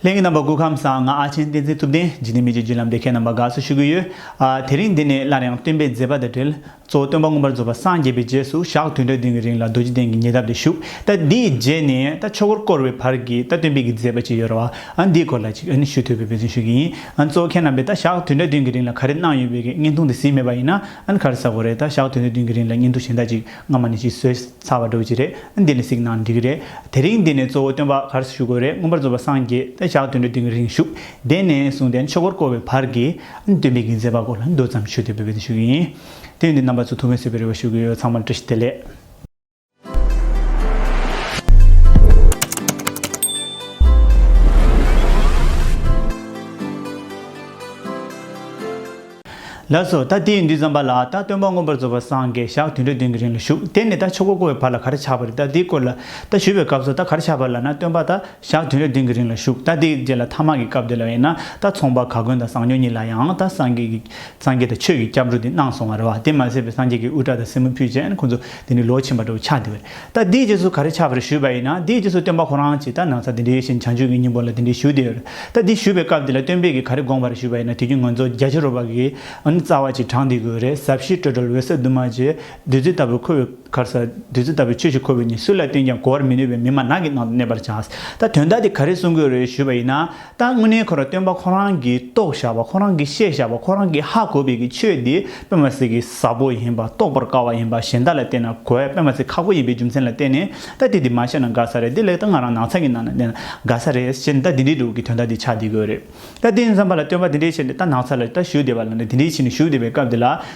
གླིང་གི་རྣམ་པ་སྐུ་ཁམས་བཟང་ང་ཨ་ཆེན་བསྟན་འཛིན་ཐུབ་བསྟན་འཇིག་རྟེན་མི་རྗེ་བརྒྱུད་ལམ་སྡེ་ཁའི་རྣམ་པ་དགའ་བསུ་ཞུ་གི་ཡོད། དེ་རིང་འདི་ནས་སླར་ཡང་སྟོན་པའི་མཛད་པ་དང་འབྲེལ་གཙོ་བོ་སྟོན་པ་མངོན་པར་རྫོགས་པ་སངས་རྒྱས་པའི་རྗེས་སུ་ཞག་དུས་འདྲ་བདུན་གྱི་རིང་ལ་རྡོ་རྗེ་གདན་གྱི་ཉེ་འདབས་དུ་བཞུགས་ད་འདིའི་རྗེས་ནས་ད་ཆོས་འཁོར་བསྐོར་བའི་བར་གྱི་ད་སྟོན་པའི་གྱི་མཛད་པ་ཅི་ཡོད་ར་བ་འདིའི་སྐོར་ལ་ཅིག་ཞུ་ཐོས་པའི་འབོད་བརྩོན་ཞུ་གི་ཡིན་གཙོ་བོ་ཁྱེད་རྣམ་པས་ད་ཞག་དུས་འདྲ་བདུན་གྱི་རིང་ལ་ག་རེ་གནང་ཡོད་པའི་གི་བརྙན་ཐུང་དེ་གཟིགས་མེད་པ་ཡིན་ན་གར་ས་གོ་རེད་ད་ཞག་དུས་འདྲ་བདུན་གྱི་རིང་ལ་བརྙན་ཐུང་གཞན་དག་ཅིག་སྔ་མ་ནས་ཅིག་བཟོས། ཚར་བ་འགྲོ་གི་རེད་འདི་ནས་གཟིགས་གནང་འགྲིག་གི་རེད་དེ་རིང་འདི་ནས་གཙོ་བོ་སྟོན་པ་གར་སོ་ཞུ་དགོས་རེད་མངོན་པར་རྫོགས་པ་སངས་རྒྱས་བདེ་འཇགས་དོན་གྲུབ་དེང་རིང་བཞུགས་དེ་ནས་བཟུང་སྟེ་མཆོད་འཁོར་བསྐོར་བའི་བར་གྱི་སྟོན་པའི་དགེ་མཚན་པ་སྐོར་ལ་མདོ་ཙམ་ཞུ་དེ་བོད་པའི་དུས་ཤིག་ཡིན་དུས་འདི་རྣམ་པ་ཚོ་ཐུགས་ངལ་སེལ་བའི་རེ་བ་ཞུ་གི་ཡོད་ཚང་མར་བཀྲ་ཤིས་བདེ་ལེགས། ལ་སོགས་ད་དེའི་འདུས་བརྩམས་པ་ལ་ད་སྟོན་པ་མངོན་པར་རྫོགས་པར་སངས་རྒྱས་ཞག་བདུན་ཁྲི་བདུན་གྱི་རིང་ལ་བཞུགས་དེ་ནས་ད་ཆོས་གོ་བསྐོར་བའི་བར་ལ་གར་ཆགས་པ་རེད་ད་དེའི་སྐོར་ལ་ད་ཞུས་པའི་སྐབས་སུ་ད་གར་ཆགས་པ་ལ་ན་སྟོན་པ་ད་ཞག་བདུན་ཁྲི་བདུན་གྱི་རིང་ལ་བཞུགས་ད་དེའི་རྗེས་ལ་ཐ་མག་གི་སྐབས་དེ་ལ་ཡིན་ན་ད་ཚོང་པ་ག་གོན་དང་ཟངས་ཉོ་གཉིས་ལ་ཡང་ད་སངས་རྒྱས་སངས་རྒྱས་དང་ཆོས་ཀྱི་སྐྱབས་འགྲོ་དེ་གནང་སོང་བ་རེད་བ་དེ་མ་ཟད་པའི་སངས་རྒྱས་ཀྱི་དབུ་སྐྲ་དང་སེན་མོ་ཕུད་བཅས་ཁོང་ཚོ་དེ་ནི་ལོ་ཆེན་པ་འདྲ་བོ་ཆགས་དེ་བས། ད་འདིའི་རྗེས་སུ་ག་རེ་ཆགས་པ་རེད་ཞུས་པ་ཡིན་ན་འདིའི་རྗེས་སུ་སྟོན་པ་ཁོ་རང་གིས་ད་ནང་ཚ་འདི་འདྲའི་བཞིན་བྱང་ཆུབ་ཀྱི་སྙིང་པོ་ལ་འདི་འདྲའི་ཞུ་འདི་ཡོད་རེད་ད་འདི་ཞུས་པའི་སྐབས་འདི་ལ་སྟོན་དཔེ་གིས་ག་རེ་དགོངས་པ་རེད་ཞུས་པ་ཡིན་ན་དེ་རྒྱུ་ངོ་མཚོ་རྒྱ་ཆེ་རོ་བ་གིས་འོ་ན་རྩ་བ་གཅིག་དྲངས་འདི་དགོས་རེད་ཟབ་ཞི་སྤྲོས་བྲལ་འོད་གསལ་དུ་མ་རྗེ་བདུད་རྩི་ལྟ་བུ་ཁོ་བོའི་གར་ས་བདུད་རྩི་ལྟ་བུའི་ཆོས་ཤིག་ཁོ་བོས་ནི་སུ་ལ་བསྟན་ཀྱང་གོ་བར་མི་ནུས་པའི་མི་མ་ནག་གི་ནང་དུ་གནས་པར་བྱ། ད་དོན་དག་འདི་ག་རེ་གསུང་དགོས་རེད་ཞུས་པ་ཡིན་ན། ད་དངོས་གནས་ཁོ་ར་སྟོན་པ་ཁོ་རང་གིས་རྟོགས་བཞག་པ་ཁོ་རང་གིས་ཤེས་བཞག་པ་ཁོ་རང་གིས་ཧ་གོ་བའི་གི་ཆོས་འདི་དཔེ་མ་སྲིག་གི་ཟབ་པོ་ཡིན་པ་རྟོགས་པར་དཀའ་བ་ཡིན་པ་གཞན་དག་ལ་བལྟས་ན་གོ་བས་དཔེ་མ་སྲིག་ཁག་པོ་ཡིན་པའི་རྒྱུ་མཚན་ལ་བལྟས་ནས་ད་དེ་འདི་མ་བཤད་ན་དགའ་ས་རེད་དེ་ལས་ད་ང་རང་ནག་ཚལ་གྱི་ནང་ན་བསྡད་ན་དགའ་ས་རེད་ཅེས་ད་འདི་འདྲའི་དྲུག་གི་དོན་དག་འདི་ཆགས་བསྡད་དགོས་རེད་ད་དེ་འཛམ་བ་ལ་སྟོན་པ་འདི་འདྲའི་ཆེད་འདི་ད་ནག་ཚལ་ལ་ད་བཞུགས་བསྡད་པ་ལ་འདི་འདྲའི་ཆེད་ནས་བཞུགས་བསྡད་པའི་སྐབས་འདི་ལ་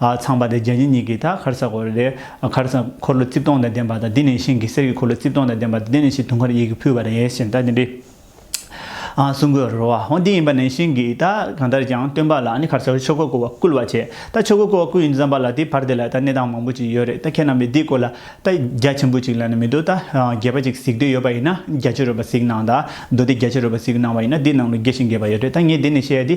ཚངས་པ་དང་བྱ་བྱེད་གཉིས་ཀྱི་དག་མཁར་ས་གོ་རེ་རེ། མཁར་ས་འཁོར་ལོ་རྩིབས་སྟོང་དང་ལྡན་པ་དང་དེ་ནས་ཤིང་གི་གསེར་གྱི་འཁོར་ལོ་རྩིབས་སྟོང་དང་ལྡན་པ་དང་དེ་ནས་ཤིང་དུང་དཀར་ཡིད་ཀྱིས་ཕུལ་བ་རེ་ཞེས་བཟླས་ཏེ་འདི། སྲུང་འཁོར་རོ། འོ་འདི་ཡིན་པ་ནས་ཤིང་གིས་དག་གང་ལྟར་ཀྱང་སྟོན་པ་ལ་ནི་མཁར་སར་ཆོས་གོས་བསྐོར་བ་བསྐུལ་བར་བྱེད། ད་ཆོས་གོས་བསྐོར་བ་བསྐུལ་ཡིན་བསམ་པ་ལ་དེའི་བར་དེ་ལ་ད་གནས་སྟངས་མང་པོ་ཅིག་ཡོད་རེད་ད་ཁྱེད་རྣམས་པས་འདི་བསྐོར་ལ། ད་རྒྱ་ཆེན་པོ་ཅིག་ལ་ནི་མི་འདུག་ད་རྒྱལ་པོ་ཅིག་གཟིགས་འདོད་ཡོད་པ་ཡིན་ན་རྒྱ་ཆེ་རུ་བ་ཟིག་གནང་ད་མདོ་སྡེ་རྒྱ་ཆེ་རུ་བ་ཟིག་གནང་བ་ཡིན་ན་འདི་ནང་ལ་དགེ་ཞིང་དགེ་བ་ཡོད་རེད་ད་ངས་འདི་ནས་བཤད་དེ།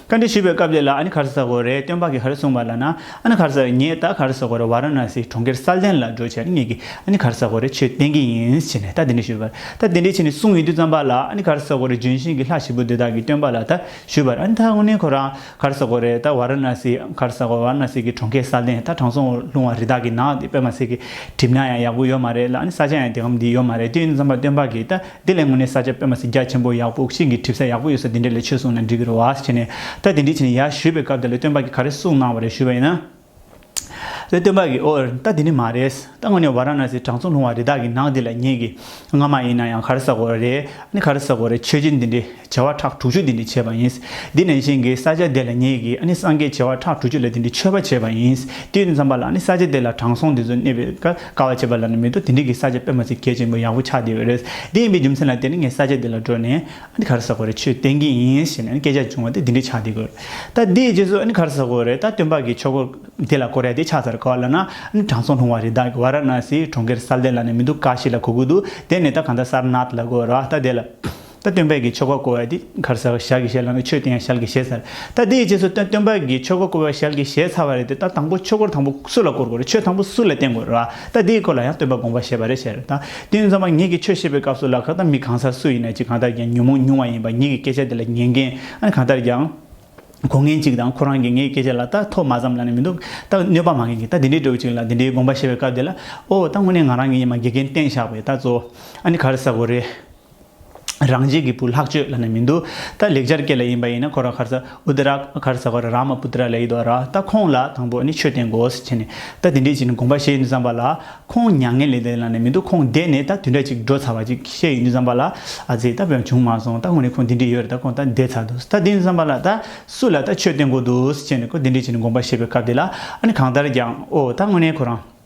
བཀའ་འདྲི་ཞུས་པའི་སྐབས་དེ་ལ་ཨ་ནི་གྷར་སཱ་གོ་རེ་སྟོན་པ་གིས་ཧར་གསུངས་པ་ལ་ན་ཨ་ནི་གྷར་སཱ་ངས་ད་གྷར་སཱ་གོ་རེ་བཱ་ར་ན་སིའི་གྲོང་ཁྱེར་སཱལ་ཏན་ལ་འགྲོ་ཆེད་ངེད་ཀྱིས་ཨ་ནི་གྷར་སཱ་གོ་རེ་ཆོས་བསྟན་གྱི་ཡིན་ཞེས་ནས་ད་དེ་འདྲི་ཞུས་པར་ད་དེ་འདྲི་བྱས་ནས་གསུངས་ཡོད་དུས་བརྩམས་པ་ལ་ཨ་ནི་གྷར་སཱ་གོ་རེ་ལྗོན་ཤིང་གི་ལྷ་ཞིག་པོ་འདི་དག་གིས་སྟོན་པ་ལ་ད་ཞུས་པར་ཨ་ནི་ད་དངོས་གནས་ཁོ་རང་གྷར་སཱ་གོ་རེ་ད་བཱ་ར་ན་སི་གྷར་སཱ་གོ་བཱ་ར་ན་སི་གི་གྲོང་ཁྱེར་སཱལ་ཏན་ད་དྲང་སྲོང་ལུང་བ་རི་དྭགས་ཀྱི་ནགས་འདི་པད་མ་ཟེར་གྱིས་བྲིབས་ན་ཡང་ཡག་པོ་ཡོད་མ་རེད་ལ་ཨ་ནི་ས་ཆ་ཡང་དེ་གམ་འདི་ཡོད་མ་རེད་དུས་འདི་བརྩམས་པ་སྟོན་པ་གིས་ད་དེ་ལས་ངོ་ནས་ས་ཆ་དཔེ་མ་ཟིན་རྒྱ་ཆེན་པོ་ཡག་པོ་ཤིང་གི་གྲིབ་ས་ཡག་པོ་ཡོད་ས་དེ་འདྲ་ལས་ཆོས་གསུངས་ན་འགྲིག་གི་རེད་བ་ཞེས་ནས་ད་དེ་འདྲའི་ཆེ་ནས་ཡར་ཞུས་པའི་སྐབས་དེ་ལས་སྟོན་པ་གིས་ག་རེ་གསུངས་གནང་བ་རེད་ཞུས་པ་ཡིན་ན། ལས་སྟོན་པ་གིས་ཨོ་ད་དེ་འདྲ་མ་རེད་ད་དངོས་གནས་བ་ར་ན་སིའི་དྲང་སྲོང་ལྷུང་བ་རི་དྭགས་ཀྱི་ནགས་འདི་ལ་ངེད་ཀྱིས་སྔ་མ་ཡིན་ན་ཡང་ག་རེ་ཟ་དགོས་རེད་ཨ་ནི་ག་རེ་ཟ་དགོས་རེད་ཆོས་རྗེ་འདི་འདྲའི་བྱེ་བ་ཕྲག་དྲུག་ཅུ་འདི་འདྲི་བྱེད་པ་ཡིན། འདི་ནས་གཞན་གྱི་ས་བྱ་དེ་ལ་ཉིད་ཀྱིས་ནི་སངས་རྒྱས་བྱེ་བ་ཕྲག་དྲུག་ཅུ་ལ་འདི་འདྲི་མཆོད་པ་བྱེད་པ་ཡིན། དུས་འདི་འཚམ་པ་ལ་ནི་ས་བྱ་དེ་ལ་དྲང་སྲོང་འདི་ཚོ་གནས་པའི་སྐབས་དཀའ་བ་བྱེད་པ་ལ་ནི་མི་དོ་དེ་འདྲི་གི་ས་བྱ་པད་མ་ཚེ་རྒྱས་ཆེན་པོ་ཡག་པོ་ཆགས་བསྡད་པས་རེད། དེ་ཡིན་པའི་རྒྱུ་མཚན་ལ་དེ་ནི་ངས་ས་བྱ་དེ་ལ་འགྲོ་ནས་གར་ས་གོ་རེ་ཆོས་བསྟན་གྱི་ཡིན་ཞེས་ནས་སྐད་ཆ་བྱུང་བ་དེ་འདི་འདྲི་ཆགས་བསྡད་དགོས། ད་དེའི་རྗེས་སུ་གར་ས་གོ་རེ་ད་སྟོན་པ་གི་ཆོས་གོ་དེ་ལ་གོ་རེ་དེ་ཆགས་ཚར་ག་ལ་ན་དྲང་སྲོང་ལྷུང་བ་རི་དྭགས་ཀྱི་བ་ར་ན་སིའི་གྲོང་ཁྱེར་སཱལ་ཏན་ལ་ནས་མི་འདུག་ཀ་ཤི་ལ་གོ་གི་འདུག་དེ་ནས་ད་གང་ད་སར་ནཱཐ་ལ་གོ་ར་ད་དེ་ལ། ད་སྟོན་པས་ཀྱི་ཆོ་ག་བསྐོ་བ་དེ་གར་ཟེར་བ་ཞལ་གྱིས་བཞེས་ལགས་ན་ཆོས་དེ་ཡང་ཞལ་གྱིས་བཞེས་ཚར། ད་དེའི་རྗེས་སུ་ད་སྟོན་པས་ཀྱི་ཆོ་ག་བསྐོ་བ་ཞལ་གྱིས་བཞེས་ཚར་བ་རེད་དེ་ད་དང་པོ་ཆོས་སྐོར་དང་པོ་སུ་ལ་བསྐོར་དགོས་རེད་ཆོས་དང་པོ་སུ་ལ་བསྟན་དགོས་རེད་བ་ད་དེའི་སྐོར་ལ་ཡང་སྟོན་པ་དགོངས་པ་ཞེས་པ་རེད་བཤད་རེད་ད་དེ་ནས་བརྩམས་པ་ངེད་ཀྱི་ཆོས་བཤད་པའི་སྐབས་སུ་ལ་ཁ་དང་མི་གང་སར་སུ་ཡིན་ན་ཅི་གང་ལྟར་ཀྱང་ཉོན་མོངས་ཉུང་བ་ཡིན་པ་ངེད་ཀྱི་སྐད་ཆ་དེ་ལ་ཉན་མཁན་ཨ་ནི་གང་ལྟར་ཀྱང་གོ་མཁན་གཅིག་དང་ཁོ་རང་གིས་ངེད་ཀྱི་སྐད་ཆ་ལ་ད་ཐོག་མ་ཙམ་ལ་ནི་མི་འདུག་ད་གནོད་པ་མ་མཁན་གྱིས་ད་དེ་འདྲའི་སྒྲོག་ཅིག་ལ་དེ་འདྲའི་དགོངས་པ་བཞེས་པའི་སྐབས་དེ་ལ་ཨོ་ད་དངོས་གནས་ང་རང་གི་ཡིན་མ་དགེ་རྒན་བསྟེན་བཞག་པས་ད་གཙོ་བོ་ཨ་ནི་ག་རེ་ཟ་དགོས་རེད། རང་རྒྱལ་གྱི་བུ་ལྷག་སྤྱོད་ལ་ནི་མི་འདུག་ད་ལེགས་སྦྱར་སྐད་ལ་ཡིན་པ་ཡིན་ན་ཁོ་ར་ཁར་ཚ་ཨུད་ར་ཁར་ཚ་ཁོ་ར་རཱ་མ་པུ་ཏི་ར་ལ་ཡིད་འོ་ར་ད་ཁོང་ལ་དང་པོ་ནི་ཆོས་བསྟན་དགོས་ཟེར་བྱས་ནས་ད་དེ་འདྲས་ཅིག་ནི་དགོངས་པ་བཞེས་ཡོད་འདུག་བསམ་པ་ལ་ཁོང་མྱ་ངན་ལས་འདས་ལ་ནི་མི་འདུག་ཁོང་འདས་ནས་ད་དུས་འདྲ་ཅིག་འགྲོ་ཚར་བ་ཅིག་བཤད་ཡོད་འདུག་བསམ་པ་ལ་ཨ་ཙི་ད་བོད་ཡང་བྱུང་མ་སོང་ད་ངོ་ནས་ཁོང་དེ་འདྲས་ཡོད་རེད་ད་ཁོང་ད་འདས་ཚར་འདུག་ད་དེ་ཡིན་བསམ་པ་ལ་ད་སུ་ལ་ད་ཆོས་བསྟན་དགོས་འདུག་ཟེར་བྱས་ནས་ཁོ་དེ་འདྲས་ཅིག་ནི་དགོངས་པ་བཞེས་པའི་སྐབས་དེ་ལ་ཨ་ནི་གང་ལྟར་ཀྱང་ཨོ་ད་ངོ་ནས་ཁོ་རང།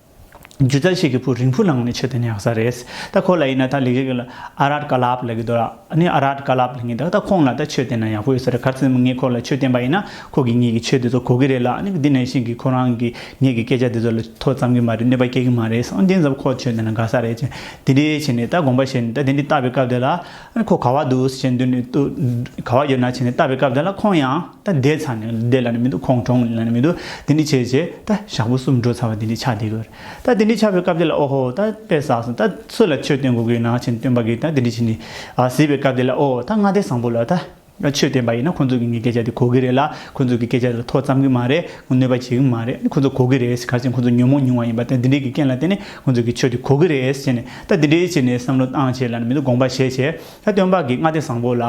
སྒྱུ་རྩལ་ཞིག་གི་བུ་རིང་བུ་ལངས་ནས་ཆོས་དེ་ནི་ཡག་ས་རེད། ད་ཁོ་ལ་ཡིན་ན་ད་ལས་ཀ་གི་ལ་ཨ་རཱར་ཀ་ལབ་ལ་གི་འདུག་ཨ་ནི་ཨ་རཱར་ཀ་ལབ་ལ་ངེས་འདུག་ད་ཁོང་ལ་ད་ཆོས་བསྟན་ན་ཡག་པོ་ཡོད་ས་རེད་ག་ཚོད་ངས་ཁོ་ལ་ཆོས་བསྟན་པ་ཡིན་ན་ཁོ་གིས་ངེད་ཀྱི་ཆོས་དེ་ཚོ་གོ་གི་རེད་ལ་ཨ་ནི་འདི་ནས་བཞིན་གི་ཁོ་རང་གིས་ངེད་ཀྱི་སྐད་ཆ་དེ་ཚོ་ལ་ཐོ་བརྩམ་གི་མ་རེད་གནོད་པ་སྐྱེལ་གི་མ་རེད་ཨང་དེ་ཙམ་ཁོ་ཆོས་བསྟན་ན་དགའ་ས་རེད་ཅེས་དེ་འདྲའི་བྱས་ནས་ད་དགོངས་པ་བཞེས་ནས་ད་དེ་འདྲའི་བཏབ་པའི་སྐབས་དེ་ལ། ཁོ་ག་བ་འདུག་བྱས་འདུག་ནས་ག་བ་ཡོད་ན་བྱས་ནས་བལྟ་བའི་སྐབས་དེ་ལ་ཁོང་ཡང་ད་བསྡད་ཚར་ནས་བསྡད་ལ་ནི་མི་འདུག་ཁོང་གྲོངས་ལ་ནི་མི་འདུག་དེ་འདྲི་བྱས་བྱས་ད་ཞག་པོ་གསུམ་འགྲོ་ཚར་བ་དེ་འདྲི་ཆགས་བསྡད་དགོས་རེད་ད་དེ་འདྲི་ཆགས་པའི་སྐབས་དེ་ལ་ཨོ་ཧོ་ད་དཔེ་བསགས་སོང་ད་སུ་ལ་ཆོས་སྟོན་དགོས་ཀྱི་ཡོད་ན་བྱས་ནས་སྟོན་པ་གིས་ད་དེ་འདྲི་བྱས་ནས་བཟི་བའི་སྐབས་དེ་ལ་ཨོ་ད་མངའ་སྡེ་བཟང་པོ་ལ་ད། ང་ཆོས་བསྟན་པ་ཡིན་ན་ཁོང་ཚོ་གི་ངའི་སྐད་ཆ་དེ་གོ་གི་རེད་ལ་ཁོང་ཚོ་གི་སྐད་ཆ་དེ་ལ་ཐོག་བརྩམས་གི་མ་རེད་གནོད་པ་བྱེད་གི་མ་རེད་ཁོང་ཚོ་གོ་གི་རེད་གལ་སྲིད་ཁོང་ཚོ་ཉོན་མོངས་ཉུང་བ་ཡིན་པ་དང་འདི་འདྲའི་གི་རྐྱེན་ལ་བརྟེན་ནས་ཁོང་ཚོ་གི་ཆོས་དེ་གོ་གི་རེད་ཟེར་ནས་ད་འདི་འདྲའི་ཆེ་ནས་བསམ་བློ་བཏང་བྱས་ལ་ནི་མི་འདུག་དགོངས་པ་བཞེས་བྱས་ད་སྟོན་པ་གི་སྔ་ལྟས་བཟང་པོ་ལ་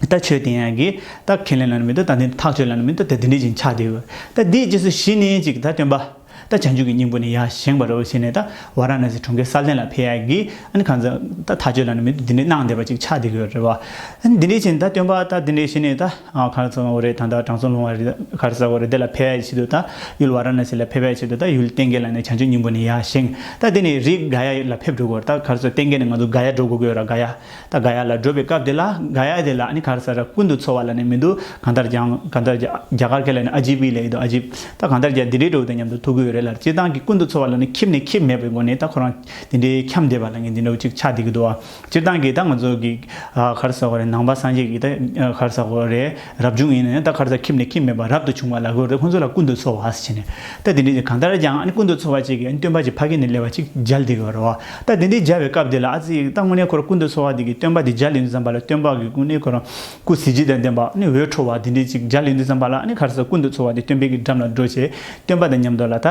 ད་ཆོས་བསྟན་ཡག་གི་ད་ཁས་ལེན་ལ་ནི་མི་འདུག་ད་འདི་འདྲ་ཐག་ཆོད་ལ་ནི་མི་འདུག་ད་འདི་འདྲའི་ཅིག་ཆགས་དེ་ཡོད་ད་འདིའི་རྗེས་སུ་གཞི་ནི་ཅིག་ད་སྟོན་པ། ད་བྱང་ཆུབ་ཀྱི་སྙིང་པོ་ནི་ཡང་བཞེངས་པར་རོ་ཞེས་ནས་ད་ཝཱ་ར་ན་སི་གྲོང་ཁྱེར་སཱ་ལྡན་ལ་ཕེབས་ཡག་གི། ད་གང་ཚོད་ད་ཐག་གཅོད་ལ་ནི་མི་འདུག་འདི་འདྲའི་གནང་བསྡད་པ་ཅིག་ཆགས་བསྡད་ཀྱི་ཡོད་རེད་བ། འདི་འདྲའི་ཕྱིན་ད་སྟོན་པ་ད་འདི་འདྲའི་ཞེས་ནས་ད་གར་ཚོ་ལོང་བོ་རེད་ད་ད་དྲང་སྲོང་ལོང་བ་རེད་ད་གར་ས་བོ་རེད་དེ་ལ་ཕེབས་ཡག་གི་ཕྱིར་དུ་ད་ཡུལ་ཝཱ་ར་ན་སི་ལ་ཕེབས་ཡག་ཕྱིར་དུ་ད་ཡུལ་གཏན་འགལ་ལ་ནི་བྱང་ཆུབ་སྙིང་པོ་ནི་ཡང་བཞེངས་ད་འདི་ནི་རིགས་དགའ་ཡ་ལ་ཕེབས་འགྲོ་དགོས་རེད་ད་གར་ཚོ་གཏན་འགལ་ནི་ང་ཚོ་དགའ་ཡ་འགྲོ་དགོས་ཀྱི་ཡོད་ར་དགའ་ཡ། ད་དགའ་ཡ་ལ་བགྲོད་པའི་སྐབས་དེ་ལ་དགའ་ཡ་དེ་ལ་ནི་ག་རེ་ཟ་ར་ཀུན་ཏུ་འཚོ་བ་ལ་ནི་མི་འདུག་གང་ལྟར་ཀྱང་གང་ལྟར་རྒྱ་གར་མཁན་ལ་ནི་ཨ་ཇིབ་བི་ལ་ཡི་དོ་ཨ་ཇིབ། ད་གང་ལྟར་ཀྱང་དེ་འདྲའི་འགྲོ་བའི་དོན་མཉམ་དུ་ཐུག་གི་ཡོད་རེད་ལར་སྤྱིར་བཏང་གི་ཀུན་ཏུ་འཚོ་བ་ལ་ནི་ཁྱིམ་ནི་ཁྱིམ་མེད་པའི་སྒོ་ནས་ད་ཁོ་རང་དེ་འདྲའི་འཁྱམས་བསྡད་པ་ལ་ངས་འདི་འདྲ་བོ་ཅིག་ཆགས་བསྡད་ཀྱི་འདུག་བ་སྤྱིར་བཏང་གིས་ད་ང་ཚོ་གིས་ག་རེ་ཟ་གོ་རེད་ནང་པ་སངས་རྒྱས་ཀྱིས་ད་ག་རེ་ཟ་གོ་རེད། རབ་བྱུང་ཡིན་ནས་ད་གར་ཚ་ཁྱིམ་ནས་ཁྱིམ་མེད་པར་རབ་ཏུ་བྱུང་བ་ལ་གོས་རེ་ཁོ་ཚོ་ལ་ཀུན་ཏུ་འཚོ་བ་ཟེར་ནས། ད་དེ་འདྲས་ཀྱི་གང་ལྟར་ཀྱང་ཨ་ནི་ཀུན་ཏུ་འཚོ་བ་ཅིག་གིས་ཨ་ནི་སྟོན་པ་ཀྱི་ཕ་གི་ནི་ལེ་བ་ཅིག་སྦྱར་འདི་གོ་རོ། ད་དེ་འདྲས་སྦྱར་བའི་སྐབས་དེ་ལ་ཨ་ཙི་ཡིག་ད་དངོས་གནས་ཁོར་ཀུན་ཏུ་འཚོ་བ་འདི་གིས་སྟོན་པ་འདི་སྦྱར་ལེ་འདི་བརྩམས་པ་ལ་སྟོན་པ་གི་ཀུན་ནི་ཁོ་རང་སྐུ་གཟི་བརྗིད་དང་ལྡན་པ་ཨ་ནི་འོད་འཕྲོ་བ་འདི་འདྲས་ཅིག་སྦྱར་ལེ་འདི་བརྩམས་པ་ལ་ཨ་ནི་གར་ཚ་ཀུན་ཏུ་འཚོ་བ་འདི་སྟོན་པའི་གི་འགྲམ་ལ་འགྲོ་བྱས་སྟོན་པ་དང་མཉམ་འགྲོ་ལ་ད།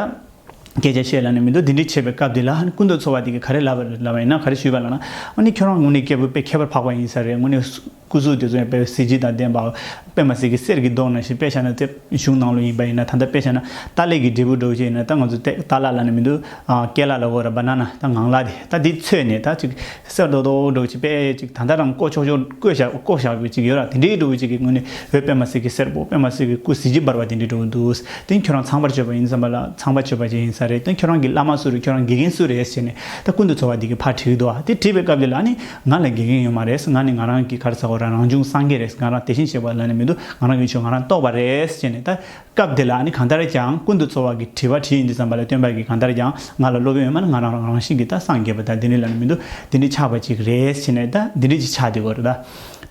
སྐད་ཆ་བཤད་ལ་ནི་མི་འདུག་དེ་འདྲས་བྱས་པའི་སྐབས་དེ་ལ་ཨ་ནི་ཀུན་ཏུ་འཚོ་བ་འདི་གིས་ག་རེ་ལབ་པ་ཡིན་ན་ག་རེ་ཞུས་པ་ལ་ན། ཨ་ནི་ཁྱོད་རང་དངོས་གནས་སྐྱེ་བོའི་དཔེ་ཁྱད་པར་འཕགས་པ་ཡིན་ས་རེད་དངོས་གནས། སྐུ་གཟུགས་དེ་ཚོ་ཡང་དཔལ་བའི་གཟི་བརྗིད་དང་ལྡན་པའོ། པདྨ་གཟིག་གི་གསེར་གྱི་མདོག་ནང་བཞིན་དཔེ་ཆ་ནང་ཚེ་གཞུང་ནང་ལོ་ཡིན་པ་ཡིན་ན་ད་ལྟ་དཔེ་ཆ་ནང་རྟ་ལས་ཀྱི་འབྲས་བུ་སྒྲོགས་བྱེད་ཡིན་ན་ད་ང་ཚོ་ཏེ་རྟ་ལ་ལ་ནི་མི་འདུག་སྐེ་ལ་ལ་བོར Banana ད་ངང་ལ་དེ་ད་དེ་ཚོས་ནས་ད་ཅིག་གསེར་རྡོག་རྡོག་སྒྲོགས་བྱེད་དཔེ་ཅིག་ད་ལྟ་རང་བཀོད་ཆོག་ཆོག་བཀོད་བཞག་བཀོད་བཞག་པའི་ཅིག་ཡོད་ར་དེ་འདྲའི་སྒྲོགས་བུ་ཅིག་གི་ངོས་ནས་བོད་པདྨ་གཟིག་གི་གསེར་བོ་པདྨ་གཟིག་གི་སྐུ་གཟི་བརྗིད་འབར་བ་དེ་འདྲའི་སྒྲོགས་བུ་འདུག་དེ་ཁྱོད་རང་ཚངས་པར་སྤྱོད་པ་ཡིན་བསམ་པ་ལ་ཚངས་པར་སྤྱོད་པ་ཅིག་ཡིན་ས་རེད་དེ་ཁྱོད་རང་གི་བླ་མ་སུ་རེད་ཁྱོད་རང་དགེ་རྒན་སུ་རེད་ཟེར་ནས་ད་ཀུན་ཏུ་འཚོ་བ་འདི་གི་ཕར་བྲིས་འདུག་ཨ་དེ་བྲིས་པའི་སྐབས་ཀྱི་ལ་ནི་ང་ལ་དགེ་རྒན་ཡོད་མ་རེད་ང་ནི་ང་རང་གི་གར་ཟ་བོ་རང་རང་བྱུང་སངས་རྒྱས་རེད་ང་རང་དེ་བཞིན་བྱེད་པ་ལ་ནི་མི་འདུག་ང་རང་ཡོད་ཆོག་ང་རང་རྟོགས་པ་རེད་ཅེས་ནས་ད་སྐབས་འདི་ལ་ནི་གང་ལྟར་ཀྱང་ཀུན་ཏུ་འཚོ་བ་གི་དྲི་བ་དྲིས་ཡིན་འདི་ཙམ་པ་ལས་སྟོན་པ་གིས་གང་ལྟར་ཀྱང་ང་ལ་སློབ་དཔོན་ཡོད་མ་ནི་ང་རང་རང་བཞིན་གྱིས་ད་སངས་རྒྱས་པ་ད་འདི་འདྲི་ལ་ནི་མི་འདུག་འདི་འདྲི་ཆགས་པ་ཅིག་རེད་ཅེས་ནས་ད་འདི་འདྲི་ཅིག་ཆགས་འདི་གོ་རེད་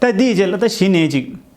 ད་འདི་ཡི་རྗེས་ལ་ད་གཞི་ནས་ཅིག།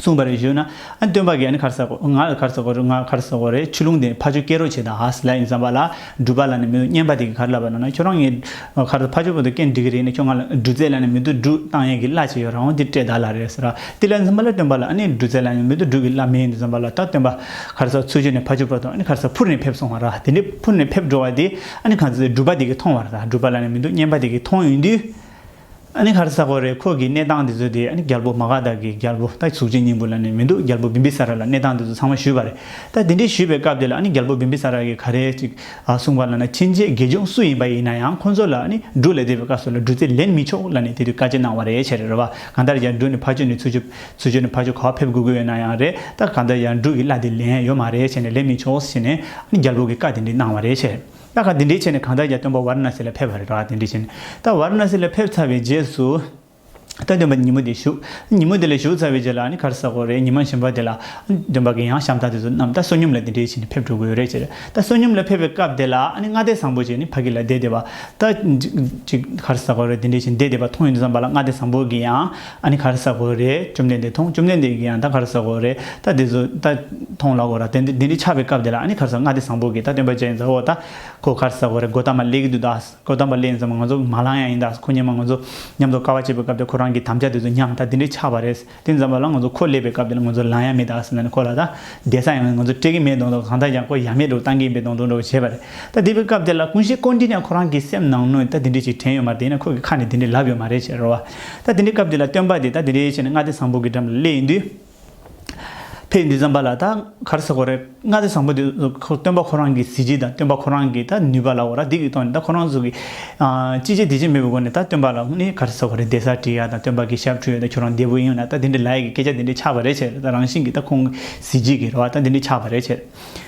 གསུངས་པར་གཞོལ་ན། སྟོན་པ་གན་གར་ཟག་གོ། ངག་གར་ཟག་གོ་རུ་ངག་གར་ཟག་གོ་རེ་ཆུ་ཀླུང་དེ་ཕ་ཆུ་སྐྱེ་རོ་བྱེད་དང་ལ་ཡིན་བསམ་པ་ལ་སྒྲུབ་པ་ལ་ནི་མི་འདུག་སྙན་པ་དེ་གི་གར་བསླབ་པ་ན་ན་ཁྱོད་རང་ངའི་གར་དུ་ཕ་ཆུ་བོ་དུ་སྐྱེ་འགྲིག་གི་རེད་ནི་ཁྱོད་ང་ལ་སྒྲུབ་རྩལ་ལ་ནི་མི་དུ་སྒྲུག་སྟངས་ཡན་གི་བླ་ཆེ་ཡོད་རང་བོ་འདི་སྤྲད་ད་ལ་རེ་ཟེར་ར་དེ་ལ་འཛིན་པ་ལ་སྟོན་པ་ལ་ཨ་ནི་སྒྲུབ་རྩལ་ལ་ནི་མི་དུ་སྒྲུག་གི་བླ་མི་ཡིན་འདུག་བསམ་པ་ལ་ད་སྟོན་པ་གར་ཟག་ཚུར་གཅོད་ནས་ཕ་ཆུ་བོ་དང་ཨ་ནི་གར་ཟག་འཕུར་ནས་ཕེབས་སོང་བ་ར་དེ་འདྲའི་འཕུར་ནས་ཕེབས་འགྲོ་བ་དེ་ཨ་ནི་གང་ཚེ་སྒྲུབ་པ་དེ་གི་མཐོང་བ་ར་སྒྲུབ་པ་ལ་ནི་མི་འདུག་སྙན་པ་དེ་གི་མཐོང་ཡོང་དུས། ཨ་ནི་ཧར་ས་ཁོ་རེད་ཁོ་གིས་གནས་སྟངས་དེ་ཚོ་དེ་ཨ་ནི་རྒྱལ་པོ་མ་ག་དག་གིས་རྒྱལ་པོ་ད་གཟུགས་ཅན་སྙིང་པོ་ལ་ནི་མི་འདུག་རྒྱལ་པོ་བི་འབི་ས་ར་ལ་གནས་སྟངས་དེ་ཚོ་ཚང་མ་ཞུས་པ་རེད་ད་དེ་འདྲའི་ཞུས་པའི་སྐབས་དེ་ལ་ཨ་ནི་རྒྱལ་པོ་བི་འབི་ས་ར་གིས་ག་རེ་ཅིག་གསུངས་པ་ལ་ན་ཕྱིན་ཆད་དགེ་སྦྱོང་སུ་ཡིན་པ་ཡིན་ན་ཡང་ཁོ་ཚོ་ལ་ཨ་ནི་འབྲུ་ལས་འདས་པའི་སྐབས་སུ་ལ་འབྲུ་རྩིས་ལེན་མི་ཆོག་ལ་ནི་དེ་དུས་བཀའ་བཅད་གནང་བ་རེད་ཕྱིར་རོལ་བ་གང་ལྟར་ཡར་འབྲུ་ནི་ཕར་སྤྱོད་ནས་ཚུར་སྤྱོད་ཚུར་སྤྱོད་ནས་ཕར་སྤྱོད་ག་བ་ཕེབས་དགོས་ཀྱི་ཡོད་ན་ཡང་རེད་ད་གང་ལྟར་ཡར་འབྲུ་གི་གླ་དེ་ལེན་ཡོད་མ་རེད་བྱས་ནས་ལེན་མི་ཆོག་ཟེར་ནས་ཨ་ནི་རྒྱལ་པོ་གིས་བཀའ་དེ་འདྲས་གནང་བ་རེད་ཕྱིར། ད་ག་དེ་འདྲའི་ཆེད་ནས་གང་ལྟར་ཀྱང་སྟོན་པ་ཝར་ན་སི་ལ་ཕེབས་པ་རེད་ག་དེ་འདྲའི་ཆེད་ནས་ད་ཝར་ན་སི་ལ་ཕེབས་ཚར་བའི་རྗེས་སུ། ད་སྟོན་པ་ཉིན་མོ་དེ་བཞུགས་ཉིན་མོ་དེ་ལ་བཞུགས་ཚར་བའི་རྗེས་ལ་ནི་གར་ས་གོ་རེད་ཉི་མ་བཞིན་པ་དེ་ལ། སྟོན་པ་གི་ཡང་ཤམ་ཐག་དེ་ཚོ་རྣམས་ད་བསོད་སྙོམས་ལ་དེ་འདྲའི་ཆེད་ནས་ཕེབས་འགྲོ་དགོས་རེད་ཅེས་རེད་ད་བསོད་སྙོམས་ལ་ཕེབས་པའི་སྐབས་དེ་ལ་ནི་སྔ་ལྟས་བཟང་པོ་ཞིག་ནི་ཕ་གི་ལ་བསྡད་དེ་བ་ད། གཅིག་གར་ས་གོ་རེད་དེ་འདྲའི་ཆེད་ནས་བསྡད་དེ་བ་མཐོང་ཡོང་དུ་བསམ་པ་ལ་སྔ་ལྟས་བཟང་པོ་གི་ཡང། ཨ་ནི་ག་རེ་ཟ་གོ་རེད་བཅོམ་ལྡན་འདས་མཐོང་བཅོམ་ལྡན་འདས་ཀྱིས་ཡང་ད་ག་རེ་ཟ་གོ་རེད་ད་འདི་ཟོ་ད་མཐོང་ལགས་གོ་ར་དེ་འདི་འདི་ཆགས་པའི་སྐབས་དེ་ལ་ཨ་ནི་ག་རེ་ཟ་མངའ་སྡེ་བཟང་པོ་གིས་ད་སྟོན་པ་ཅན་ཟ་འོ་ད་ཁོ་ག་རེ་ཟ་གོ་རེད་སྒོ་དམ་པ་ལེགས་ཀྱི་འདུག་ད་སྒོ་དམ་པ་ལེགས་ཡིན་ཙང་མ་ང་ཚོ་མ་ལང་ཡ་ཡིན་ད་ཁོ་ཉིན་མ་ང་ཚོ་མཉམ་དུ་དཀའ་བ་སྤྱད་པའི་སྐབས་དེ་ཁོ་རང་གི་དམ་བཅའ་དེ་ཚོ་ཉམས་ད་འདི་འདྲས་ཆགས་པ་རེད་དེ་འཛམ་པ་ལ་ང་ཚོ་ཁོ་སླེབས་པའི་སྐབས་དེ་ལ་ང་ཚོ་ལང་ཡ་མེད་ད་ཟེར་ན་ནི་ཁོ་ལ་ད་འདས་ས་ཡང་ང་ཚོ་སྤྲད་ཀྱི་མེད་གདོང་ད་གང་ལྟར་ཀྱང་ཁོ་ཡ་མེད་འགྲོ་བཏང་གི་ཡིན་པའི་གདོང་དུ་འགྲོ་བ་བྱས་པ་རེད་ད་དེ་བའི་སྐབས་དེ་ལ་ཀུན་གཞི་ཀོ་འདྲིས་ཀྱང་ཁོ་རང་གི་སེམས་ནང་ནུས་ད་འདི་འདྲས་ཅིག་དྲན་ཡོད་མ་རེད་ཡིན་ན་ཁོ་གི་ཁ་ནས་འདི་འདྲས་ལབ་ཡོད་མ་རེད་ཅེས་རོ་བ་ད་དེ་འདྲའི་སྐབས་འདི་ལ་སྟོན་པ་འདི་ད་དེ་འདྲའི་ཆེ་ནས་མངའ་སྡེ་བཟང་པོ་གི་འགྲམ་ལ་སླེ་ཡིན་དུས། ཕས་འདི་བརྩམས་པ་ལ་ད་གར་ཟེར་གོ་རེ་མངའ་སྡེ་བཟང་པོ་འདི་སྟོན་པ་ཁོ་རང་གི་གཟི་བརྗིད་དང་སྟོན་པ་ཁོ་རང་གི་ད་ནུས་པ་ལ་འོ་ར་འདི་གི་ཐོག་ནས་ད་ཁོ་རང་ཚོ་གི། ཅི་བྱེད་འདི་བྱེད་མེད་པའི་སྒོ་ནས་ད་སྟོན་པ་ལ་ནི་གར་ཟེར་གོ་རེ་འདས་ས་བྲིས་ཡ་དང་སྟོན་པ་གི་ཞབས་བྲོ་ཡོད་ད་ཁྱོད་རང་འདས་པོ་ཡིན་ཡོང་ན་ད་དེ་འདྲའི་ལ་ཡས་ཀྱི་སྐད་ཆ་འདི་འདྲའི་ཆགས་པ་རེ་བྱས་རེ་ད་རང་བཞིན་གྱི་ད་ཁོང་གི་གཟི་བརྗིད་ཀྱི་རེ་བ་ད་འདི་འདྲའི་ཆགས་པ་རེ་བྱས་རེ།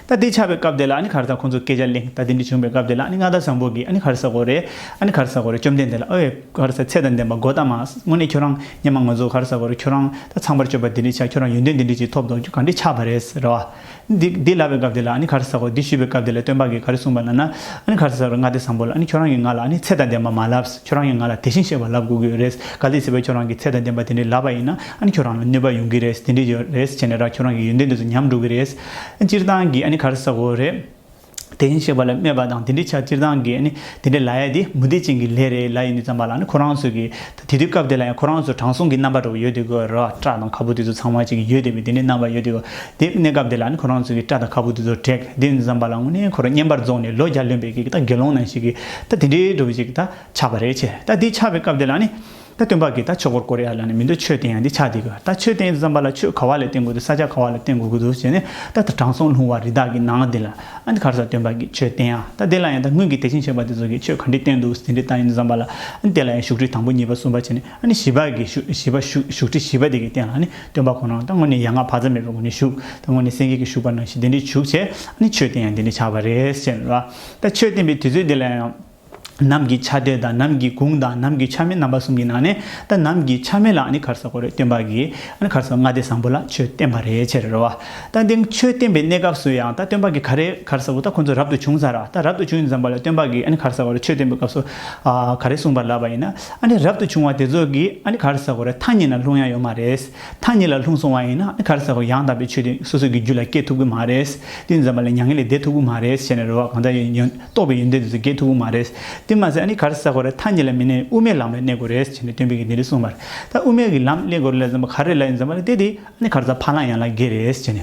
ད་ལྟའི་ཆར་བའི་སྐབས་དེ་ལ་ཨ་ནི་གར་ཟ་ཁོང་ཚོ་སྐད་ཆ་གླེང་ད་དེ་འདྲ་བྱུང་བའི་སྐབས་དེ་ལ་ཨ་ནི་མངའ་བདག་བཟང་པོ་གིས་ཨ་ནི་གར་ཟ་གོ་རེ་ཨ་ནི་གར་ཟ་གོ་རེ་བཅོམ་ལྡན་འདས་ལ་ཨོ་ཡེ་གར་ཟ་ཚད་དང་ལྡན་པ་འགོ་ད་མ་དངོས་གནས་ཁྱོད་རང་སྙམ་མ་ང་ཚོ་གར་ཟ་གོ་རེ་ཁྱོད་རང་ད་ཚངས་པར་སྤྱོད་པ་དེ་འདྲས་ཆགས་ཁྱོད་རང་ཡོན་ཏན་དེ་འདྲས་ཅིག་ཐོབ་དོགས་རྒྱུ་ག་འདྲས་ཆགས་པ་རེད་ཟེར་བ། འདི་འདི་ལབ་པའི་སྐབས་དེ་ལ་ཨ་ནི་གར་ཟ་གོ་འདི་ཞུས་པའི་སྐབས་དེ་ལ་སྟོན་པ་གིས་ག་རེ་གསུངས་པ་ལབ་ན་ཨ་ནི་གར་ཟ་གོ་རེ་མངའ་བདེ་བཟང་པོ་ལ་ཨ་ནི་ཁྱོད་རང་གིས་ང་ལ་ཨ་ནི་ཚད་དང་ལྡན་པ་མ་ལབས། ཁྱོད་རང་གིས་ང་ལ་དེ་བཞིན་གཤེགས་པ་ལབ་དགོས་ཀྱི་རེད། ག་དུས་སྲིད་པ་ཁྱོད་རང་གི་ཚད་དང་ལྡན་པ་དེ་འདྲའི་ལབ་པ་ཡིན་ན་ཨ་ནི་ཁྱོད་རང་ལ་གནོད་པ་ཡོང་གི་རེད་དེ་འདྲས་ཀྱི་རེད་བྱས་ནས་ར་ཁྱོད་རང་གི་ཡོན་ཏན་དེ་ཚོ་ཉམས་འགྲོ་གི་རེད། སྤྱིར་བཏང་གིས་ཨ་ནི་གར་ཟ་གོ་རེད། དེ་བཞིན་གཤེགས་པ་ལ་སྨྲས་པ་དང་དེ་འདྲའི་ཆ་སྤྱིར་བཏང་གིས་ཨ་ནི་དེ་འདྲའི་ལ་ཡ་དེ་མུ་སྟེགས་ཅན་གྱི་ལས་རེད་ལ་ཡིན་དུས་ཙམ་པ་ལ་ཨ་ནི་ཁོ་རང་ཚོས་ཀྱི་ད་དེ་དུས་སྐབས་དེ་ལ་ཡང་ཁོ་རང་ཚོ་དྲང་སྲོང་གི་རྣམ་པ་འདྲ་བོ་ཡོད་དུས་ཀྱི་རེད་བ་སྐྲ་དང་ཁ་སྤུ་དེ་ཚོ་ཚང་མ་ཅིག་ཡོད་དེ་བས་དེ་འདྲའི་རྣམ་པ་ཡོད་དུས་དེ་གནས་སྐབས་དེ་ལ་ཨ་ནི་ཁོ་རང་ཚོས་ཀྱི་སྐྲ་དང་ཁ་སྤུ་དེ་ཚོ་བྲེག་དེ་ཡིན་དུས་ཙམ་པ་ལ་དངོས་གནས་ཁོ་རང་བརྙན་པར་རྫོགས་ནས་ལོ་བརྒྱ་ལོན་པའི་ཀྱི་ད་དགེ་སློང་ནང་ཞིག་གི་ད་དེ་འདྲའི་སྒྲུབ་བྱེད་ཀྱི་ད་ཆགས་པ་རེད་ཆེ་ད་དེ་ཆགས་པའི་སྐབས་དེ་ལ་ནི། ད་སྟོན་པ་གི་ད་ཆོས་འཁོར་ཀོ་རེ་ཡ་ལ་ནི་མི་འདུག་ཆོས་བསྟན་ཡང་འདི་ཆགས་འདི་དགོས་ད་ཆོས་བསྟན་ཡོད་བསམ་པ་ལ་ཆོས་ག་བ་ལས་བསྟན་དགོས་འདུག་ས་ཆ་ག་བ་ལ་བསྟན་དགོས་ཀྱི་འདུག་ཅེས་ནི་ད་ད་དྲང་སྲོང་ལྷུང་བ་རི་དྭགས་ཀྱི་ནང་འདི་ལ་ཨ་འདི་གར་ས་སྟོན་པ་གི་ཆོས་བསྟན་ཡང་ད་དེ་ལ་ཡང་ད་སྔོན་གྱི་དད་ཅིང་ཆེ་བ་དེ་ཚོ་གིས་ཆོས་ག་འདྲི་བསྟན་འདུག་ཟིན་འདྲི་ད་ཡིན་འདུག་བསམ་པ་ལ་ཨ་དེ་ལ་ཡང་བཞུགས་ཁྲི་དང་པོ་གཉིས་པ་གསུམ་པ་བྱས་ནས་ཨ་ནི་བཞི་པ་གི་བཞི་པ་བཞུགས་ཁྲི་བཞི་པ་དེ་གི་སྟེང་ལ་ནི་སྟོན་པ་ཁོ་ན་ད་སྔོན་ནི་ཡ་ང་བག་ཚ་མེད་པའི་སྒོ་ནས་བཞུགས་ད་སྔོན་ནི་སེང་གེ་གི་བཞུགས་པ་ནང་བཞིན་དེ་འདྲི་བཞུགས་བྱས་ཨ་ནི་ཆོས་བསྟན་ཡང་འདི་འདྲི་ཆགས་པ་རེད་ཅེས་ནི་ལ། ད་ཆོས་བསྟན་པའི་དུས་ཚོད་འདི་ལ་ཡང། ནམ་གྱི་ཆ་དེ་དང་ནམ་གྱི་གུང་དང་ནམ་གྱི་ཆ་མེད་རྣམ་པ་གསུམ་གྱི་ནང་ནས་ད་ནམ་གྱི་ཆ་མེད་ལ་ནི་གར་སོག་གོ་རེ་སྟོན་པ་གིས་ནི་གར་སོག་ལྔ་སྡེ་བཟང་པོ་ལ་ཆོས་བསྟན་པ་རེད་ཅེས་རེ་བ། ད་འདི་ཆོས་བསྟན་པའི་གནས་སྐབས་སུ་ཡང་ད་སྟོན་པ་གིས་ག་རེ་གར་སོག་ད་ཁོ་ཚོ་རབ་ཏུ་བྱུང་ཚར་ད་རབ་ཏུ་བྱུང་ཡིན་བསམ་པ་ལ་སྟོན་པ་གིས་ནི་གར་སོག་གོ་རེ་ཆོས་བསྟན་པའི་སྐབས་སུ་ག་རེ་གསུངས་པར་ལབ་པ་ཡིན་ན་ནི་རབ་ཏུ་བྱུང་བ་དེ་ཚོ་གིས་ནི་གར་སོག་གོ་རེ་ཐ་སྙད་ན་ལྷུང་ཡ་ཡོད་མ་རེད། མཐའ་གཉིས་ལ་ལྷུང་སོང་བ་ཡིན་ན་ཨ་ཁར་ས་ཁོ་ཡང་དག་པའི་ཆོས་དེ་སོ་སོ་གི་རྒྱུད་ལ་སྐྱེ་ཐུབ་ཀི་མ་རེད། དེ་འཛམ་པ་ལ་མྱ་ངན་ལས་འདས་ཐུབ་ཀི་མ་རེད་ཞེས་ནས་རེ་བ་གང་འདྲ་ཡོད་ཡོད་རྟོགས་པའི་ཡོན་ཏན་དེ་ཚོ་སྐྱེ་ཐུབ་ཀི་མ་རེད། དེ་མ་ཟད་ཨ་ཁར་ས་ཁོ་རེ་མཐའ་གཉིས་ལ་མི་གནས་དབུ་མའི་ལམ་ལ་གནས་དགོས་རེད་ཅེས་ནས་སྟོན་པས་གིས་འདི་རེ་གསུངས་པར། ད་དབུ་མའི་གི་ལམ་གླེང་དགོས་རེད་ལ་འཛམ་པ་ག་རེ་ལ་ཡིན་འཛམ་པ་ལ་བལྟས་དེ་ཨ་ཁར་ས་ཕ་ལང་ཡང་ལ་དགེ་རེད་ཅེས་ནས།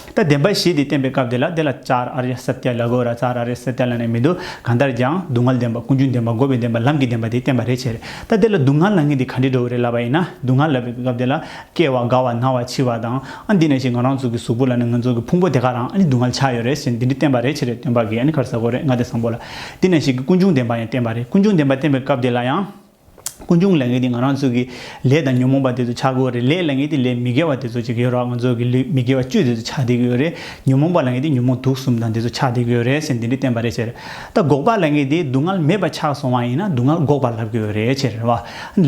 ད་བདེན་པ་ཞེས་དེ་བསྟན་པའི་སྐབས་དེ་ལ་དེ་ལ་ཅཱར་ཨ་རྱ་སཱཏྱ་ལ་གོ་ར་ཙཱར་ཨ་རྱ་སཱཏྱ་ལ་ནི་མི་འདུག་གང་ལྟར་ཀྱང་སྡུག་བསྔལ་བདེན་པ་ཀུན་འབྱུང་བདེན་པ་འགོག་པའི་བདེན་པ་ལམ་གྱི་བདེན་པ་དེ་བསྟན་པ་རེ་ཆེར་ད་དེ་ལ་སྡུག་བསྔལ་ལ་ངེས་ཏེ་ག་འདྲའི་འགྲོ་བ་རེ་ལབ་པ་ཡིན་ན་སྡུག་བསྔལ་ལབ་པའི་སྐབས་དེ་ལ་སྐྱེ་བ་རྒ་བ་ན་བ་འཆི་བ་དང་ཨ་འདི་ནས་ཞེས་ང་རང་ཚུགས་ཀྱི་གཟུགས་པོ་ལ་ནི་ངོས་རྫོགས་ཀྱི་ཕུང་པོ་དེ་ག་རང་ཨ་ནི་སྡུག་བསྔལ་ཆགས་ཡོད་རེད་ཞེས་འདི་འདྲའི་བསྟན་པ་རེ་ཆེར་སྟོན་པ་གིས་ཨ་ནི་གར་ཟ་གོ་རེ་ང་དེ་བཟང་པོ་ལ་འདི་ནས་ཞེས་ཀྱི་ཀུན་འབྱུང་བདེན་པ་ཡང་བསྟན་པ་རེད་ཀུན་འབྱུང་བདེན་པ་བསྟན་པའི་སྐབས་དེ་ལ་ཡང། ཀུན་འབྱུང་ལས་ངན་དེ་ང་རང་ཚོ་གི་ལས་དང་ཉོན་མོངས་པ་དེ་ཚོ་ཆགས་དགོས་རེད་ལས་ལ་ངན་དེ་ལས་མི་དགེ་བ་དེ་ཚོ་བྱེད་ཀྱི་ཡོད་རོགས་ང་ཚོ་གི་ལུས་མི་དགེ་བ་བཅུ་དེ་ཚོ་ཆགས་བསྡད་ཀྱི་ཡོད་རེད་ཉོན་མོངས་པ་ལ་ངན་དེ་ཉོན་མོངས་དུག་གསུམ་དང་དེ་ཚོ་ཆགས་བསྡད་ཀྱི་ཡོད་རེད་ཟེར་འདི་འདྲའི་བསྟན་པ་རེད་ཟེར་ད་འགོག་པ་ལ་ངན་དེ་སྡུག་བསྔལ་མེད་པ་ཆགས་སོང་བ་ཡིན་ན་སྡུག་བསྔལ་འགོག་པར་ལབ་ཀྱི་ཡོད་རེད་ཟེར་བ་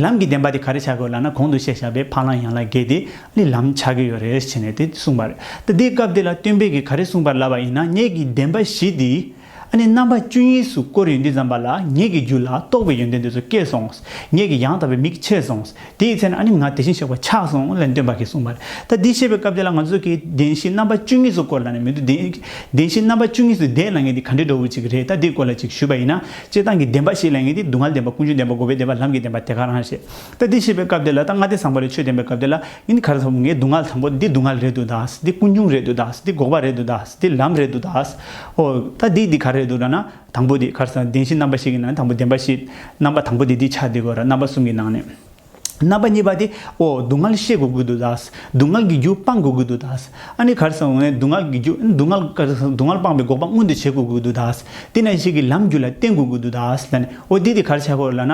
ལམ་གྱི་བདེན་པ་དེ་ག་རེ་བྱ་དགོས་ལ་ན་གོང་དུ་བཤད་བཞག་པའི་ཕ་ལང་ཡང་ལ་རྒས་དེ་ལི་ལམ་ཆགས་ཀྱི་ཡོད་རེད་ཟེར་ནས་དེ་གསུངས་པ་རེད་ད་འདིའི་སྐབས་དེ་ལ་སྟོན་པས་གི་ག་རེ་གསུངས་པར་ལབ་པ་ཡིན་ན་གནད་ཀྱི་བདེན་པ་བཞི་དེ། ཨ་ནི་རྣམ་པ་བཅུ་གཉིས་སུ་བསྐོར་ཡོད་འདི་བརྫམས་པ་ལ་ངེད་ཀྱི་རྒྱུད་ལ་གཏོགས་པའི་ཡོན་ཏན་འདི་ཚོ་སྐྱེས་སོང་ངོ། ངེད་ཀྱི་ཡང་དག་པའི་མིག་ཕྱེས་སོང། དེའི་ཚེ་ན་ཨ་ནི་ང་དེ་བཞིན་གཤེགས་པ་ཕྱག་ཟུང་ལས་འདོན་པ་གིས་གསུངས་པ། ད་འདི་བཤད་པའི་སྐབས་འདི་ལ་ང་ཚོ་གིས་བདེན་བཞི་རྣམ་པ་བཅུ་གཉིས་སུ་བསྐོར་ལ་ནི་མི་འདུག་བདེན་བཞི་རྣམ་པ་བཅུ་གཉིས་སུ་བསྡད་ན་ངེད་འདི་ག་འདྲའི་འགྲོ་བོ་ཅིག་རེད་ད་འདིའི་སྐོར་ལ་ཅིག་ཞུས་པ་ཡིན་ན། སྤྱིར་བཏང་གི་བདེན་པ་ཞིག་ལ་ངེད་འདི་སྡུག་བསྔལ་བདེན་པ་ཀུན་འབྱུང་བདེན་པ་འགོག་པའི་བདེན་པ་ལམ་གྱི་བདེན་པ་དེ་ག་རང་ཞེས་ད་འདི་བཤད་པའི་སྐབས་དེ་ལ་ད་ང་དེ་ཚངས་པ་རེད་ཆོས་བསྟན་པའི་སྐབས་དེ་ལ་ཡིན་གར་ཐོབ་ངའི་སྡུག་བསྔལ་དང་པོ་འདི་སྡུག་བསྔལ་རེད་འདུག་ད་འདི་ཀུན་འབྱུང་རེད་འདུག་ད་འདི་འགོག་པ་རེད་འདུག་ད་འདི་ལམ་རེད་འདུག་ད་ཨོ་ད་འདི་འདི་ག་རེད་འདུག་ད་ན་དང་པོ་འདི་གར་ས་བདེན་བཞི་རྣམ་པ་བཞི་གི་ནང་དང་པོ་བདེན་པ་བཞི་རྣམ་པ་དང་པོ་འདི་འདི་ཆ་འདི་གོ་ར་རྣམ་པ་གསུམ་གྱི་ནང་ནས་རྣམ་པ་གཉིས་པ་དེ་ཨོ་སྡུག་བསྔལ་ཤེས་དགོས་ཀྱི་འདུག་ད་སྡུག་བསྔལ་གྱི་རྒྱུ་སྤང་དགོས་ཀྱི་འདུག་ད་ཨ་ནི་གར་སོང་ངས་སྡུག་བསྔལ་གྱི་རྒྱུ་སྡུག་བསྔལ་ག་རེ་སྡུག་བསྔལ་སྤངས་པའི་འགོག་པ་མངོན་དུ་བྱེད་དགོས་ཀྱི་འདུག་ད་དེ་ནས་ཤེས་ཀྱི་ལམ་རྒྱུད་ལ་བརྟེན་དགོས་ཀྱི་འདུག་ད་ལ་ནི་ཨོ་འདི་འདི་གར་ཆགས་གོ་ར་ལ་ན་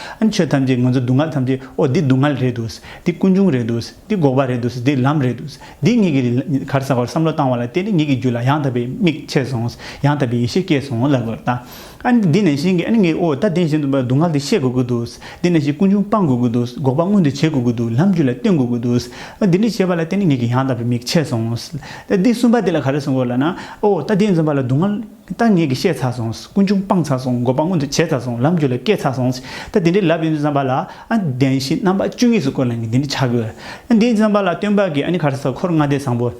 ཨ་ཆོས་ཐམས་ཅད་ང་ཚོ་སྡུག་བསྔལ་ཐམས་ཅད་ཨོ་འདི་སྡུག་བསྔལ་རེད་འདུག་འདི་ཀུན་འབྱུང་རེད་འདུག་འདི་འགོག་པ་རེད་འདུག་འདི་ལམ་རེད་འདུག་འདི་ཉིད་ཀྱི་གར་ཟ་བར་བསམ་བློ་བཏང་བ་ལ་བརྟེན་ནས་ཉིད་ཀྱི་རྒྱུད་ལ་ཡང་དག་པའི་མིག་ཕྱེ་སོང་ཡང་དག་པའི་ཡེ་ཤེས་སྐྱེས་སོང་ལབ་ལོར་བལྟ། ཨ་འདི་ནས་བཞིན་གྱི་ངའི་ཨོ་ད་དེ་བཞིན་དུ་སྡུག་བསྔལ་འདི་ཤེས་དགོས་ཀྱི་འདུག་འདི་ནས་བཞིན་ཀུན་འབྱུང་སྤང་དགོས་ཀྱི་འདུག་འགོག་པ་མངོན་དུ་བྱེད་དགོས་ཀྱི་འདུག་ལམ་རྒྱུད་ལ་བརྟེན་དགོས་ཀྱི་འདུག་འདི་འདྲ་བྱས་པ་ལ་བརྟེན་ནས་ཉིད་ཀྱི་ཡང་དག་པའི་མིག་ཕྱེ་སོང། འདི་གསུམ་པ་འདི་ལ་ག་རེ་གསུང་དགོས་ལ་ན་ཨོ་ད་དེ་འཛོམས་པ་ལ་སྡུག་བསྔལ། ད་ངེད་ཀྱིས་བཤད་ཚར་སོང། ཀུན་འབྱུང་སྤངས་ཚར་སོང། འགོག་པ་མངོན་དུ་བྱས་ཚར་སོང། ལམ་རྒྱུད་ལ་སྐྱེལ་ཚར་སོང། ད་དེ་འདྲའི་ལབ་ཡོན་ཏན་བསམ་པ་ལ། བདེན་བཞི་རྣམ་པ་བཅུ་གཉིས་སུ་བཀོད་ན་ངེད་འདི་འདྲའི་ཆགས་ཡོད། བདེན་བཞི་བསམ་པ་ལ་སྟོན་པ་གྱིས་ཨ་ནི་ག་རེ་ཟེར་འཁོར་ལྔ་སྡེ་བཟང་པོ།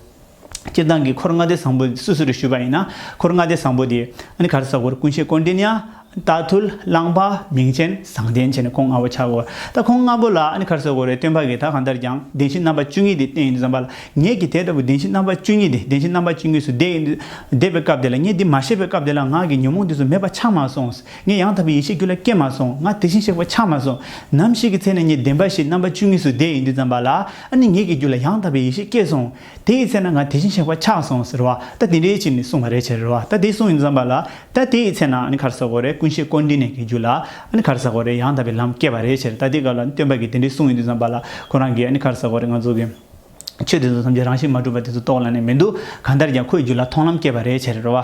སྤྱིར་བཏང་གི་འཁོར་ལྔ་སྡེ་བཟང་པོ་སུ་སུ་རེད་ཞུས་པ་ཡིན་ན། འཁོར་ལྔ་སྡེ་བཟང་པོ་དེ་ཨ་ནི་ག་རེ་ཟེར་འཁོར་ཀུན་བྱེད་དཀོན་འདྲེ་ནི་ཨ་རྟ་ཐུལ་གླང་པ་མིང་ཅན་བཟང་ལྡན་བྱས་ནས་ཁོང་ལྔ་པོ་ཆགས་དགོས། ད་ཁོང་ལྔ་པོ་ལ་ཨ་ཁར་གསོད་དགོས་རེད་སྟོན་པ་གིས་ད་གང་ལྟར་ཀྱང་བདེན་བཞི་རྣམ་པ་བཅུ་གཉིས་དེ་བསྟན་ཡོད་འདུག་བསམ་པ་ལ་ངེད་ཀྱིས་དེ་ལྟ་བུའི་བདེན་བཞི་རྣམ་པ་བཅུ་གཉིས་དེ་བདེན་བཞི་རྣམ་པ་བཅུ་གཉིས་སུ་བསྡད་ཡོད་འདུག་བསྡད་པའི་སྐབས་དེ་ལ་ངས་འདི་མ་ཤེས་པའི་སྐབས་དེ་ལ་ངག་གི་ཉོན་མོངས་དུས་སུ་མེད་པ་ཆགས་མ་སོང། ངས་ཡང་དག་པའི་ཡེ་ཤེས་རྒྱུད་ལ་སྐྱེས་མ་སོང་ང་དེ་བཞིན་གཤེགས་པ་ཆགས་མ་སོང། ནམ་ཞིག་གི་ཚེ་ན་ངས་བདེན་པ་བཞི་རྣམ་པ་བཅུ་གཉིས་སུ་བསྡད་ཡོད་འདུག་བསམ་པ་ལ་ཨ་ནི་ངེད་ཀྱི་རྒྱུད་ལ་ཡང་དག་པའི་ཡེ་ཤེས་སྐྱེས་སོང། དེ་ཡི་ཚེ་ན་ང་དེ་བཞིན་གཤེགས་པ་ཆགས་སོང་ཟེར་བ་ལྟ་དེ་འདྲའི་ཕྱིར་ནི་གསུངས་པ་རེད་ཕྱིར་རོ་ལྟ་དེ་གསུངས་ཡིན་བསམ་པ་ལ་ལྟ་དེ་ཡི་ཚེ་ན་ཨ་ནི་གར་ཟ་གོ་རེ་ཀུན་གཞི་ཀོ་འདི་ནས་ཀྱི་རྒྱུ་ལ་ཨ་ནི་གར་ཟ་གོ་རེ་ཡང་དག་པའི་ལམ་སྐྱེས་པ་རེད་ཕྱིར་ལྟ་དེའི་སྐབས་ལ་ནི་སྟོན་པ་གིས་དེ་འདྲའི་གསུངས་ཡོད་དུས་བསམ་པ་ལ་ཁོ་རང་གིས་ཨ་ནི་གར་ཟ་གོ་རེ་ང་ཚོ་གི་ཆོས་དེ་ཚོ་ཐམས་ཅད་རང་བཞིན་མ་གྲུབ་པ་དེ་ཚོ་རྟོགས་ལ་ནི་མི་འདུག་གང་ལྟར་ཀྱང་ཁོས་རྒྱུ་ལ་མཐོང་ལམ་སྐྱེས་པ་རེད་ཕྱིར་རོ།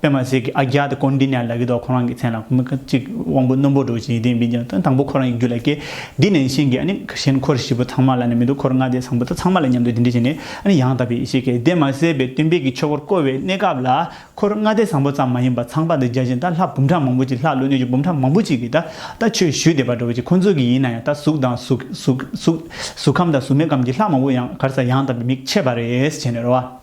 པད་མ་ཟེར་གྱི་ཨ་རྒྱ་དེ་ཀོན་ཏི་ནའི་ལ་གི་ཐོག་ཁོ་རང་གི་མཚན་ལ་མི་ག་ཅིག་དབང་པོ་རྣོན་པོ་འགྲོ་བཞིན་ཡི་དེ་འབིན་ཀྱང་ད་དང་པོ་ཁོ་རང་གི་རྒྱུད་ལ་སྐྱེ། འདི་ནན་ཤན་གྱི་ཨ་ནི་གཞན་འཁོར་བཞི་པོ་ཚང་མ་ལ་ནི་མི་འདུག་འཁོར་ལྔ་དེ་བཟང་པོ་དག་ཚང་མ་ལ་མཉམ་དུ་འདི་འདྲི་བྱས་ནས་ཨ་ནི་ཡང་དག་པའི་ཡེ་ཤེས་ཀྱི་དེ་མ་གསལ་བའི་སྟོན་པས་ཀྱི་ཆོས་འཁོར་བསྐོར་བའི་གནས་སྐབས་ལ་འཁོར་ལྔ་དེ་བཟང་པོ་ཙམ་མ་ཡིན་པར་ཚངས་པ་འདི་བརྒྱ་བྱིན་ད་ལྷ་འབུམ་ཕྲག་མང་པོ་ཅིག་ལྷ་ཀླུ་གནོད་སྦྱིན་འབུམ་ཕྲག་མང་པོ་ཅིག་གིས་ད་ད་ཆོས་ཞུས་དད་པ་འགྲོ་བ་ཅིག་ཁོ་ཚོ་གི་ཡིན་ན་ཡང་ད་གཟུགས་དང་གཟུགས་གཟུགས་གཟུགས་གཟུགས་ཁམས་དང་གཟུགས་མེད་ཁམས་ཀྱི་ལྷ་མང་པོ་ཡང་གར་ས་ཡང་དག་པའི་མིག་ཕྱེས་པ་རེས་བྱས་ནས་རོ།